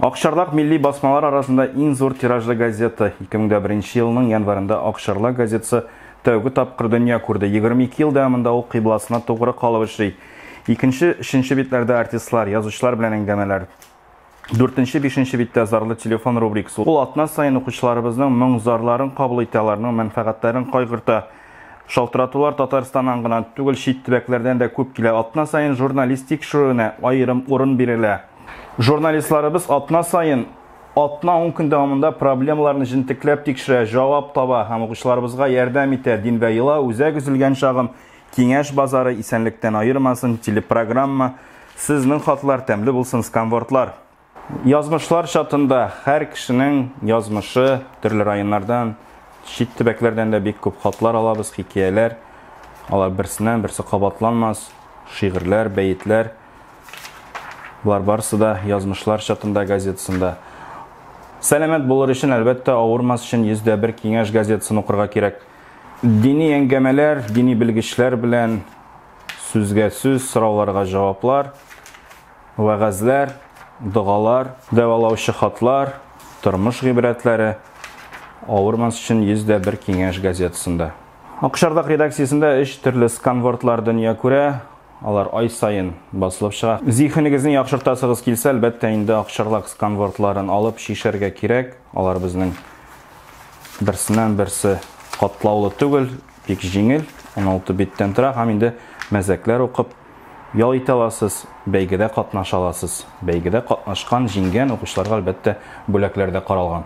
Акчарлак милли басмалар арасында иң зур тиражлы газета. 2001 елның январында Акчарлак газетасы тәүге тапкыр дөнья күрде. 22 ел дәвамында ул кыйбласына тугры калып эшли. Икенче, өченче битләрдә артистлар, язучылар белән әңгәмәләр. Дүртенче, бишенче биттә зарлы телефон рубрикасы. Ул атна саен укучыларыбызның моң-зарларын кабул итә, аларның мәнфәгатьләрен кайгырта. Шалтыратулар Татарстаннан гына түгел, чит төбәкләрдән дә күп килә. Атна саен журналист тикшерүенә аерым урын бирелә. Журналистларыбыз атна саен атна-ун көн дәвамында проблемаларны җентекләп тикшерә, җавап таба һәм укучыларыбызга ярдәм итә. Дилбәр елау, Үзәк өзелгән чагым, Киңәш базары, Исәнлектән аермасын, телепрограмма, Сезнең хатлар, Тәмле булсын сканвордлар. Язмышлар чатында һәр кешенең язмышы, төрле районнардан, чит төбәкләрдән дә бик күп хатлар алабыз, хикәяләр. Алар берсеннән берсе кабатланмас, шигырьләр, бәетләр. Болар барысы да Язмышлар чатында газетасында. Сәламәт булыр өчен, әлбәттә, авырмас өчен 101 киңәш газетасын укырга кирәк. Дини әңгәмәләр, дини белгечләр белән сүзгә сүз, сорауларга җаваплар. Вәгазьләр, догалар, дәвалаучы хатлар, тормыш гыйбрәтләре, Авырмас өчен 100 дә бер киңәш газетасында. Акчардак редакциясендә өч төрле сканвордлар дөнья күрә, алар ай саен басылып чыга. Зиһенегезне яхшыртасыгыз килсә, әлбәттә инде Акчарлак сканвордларын алып чишәргә кирәк, алар безнең берсеннән берсе катлаулы түгел, бик җиңел, 16 биттән тора һәм инде мәзәкләр укып, Ял итә аласыз, бәйгедә катнаша аласыз. Бәйгедә катнашкан, җиңгән укучыларга, әлбәттә, бүләкләр дә каралган.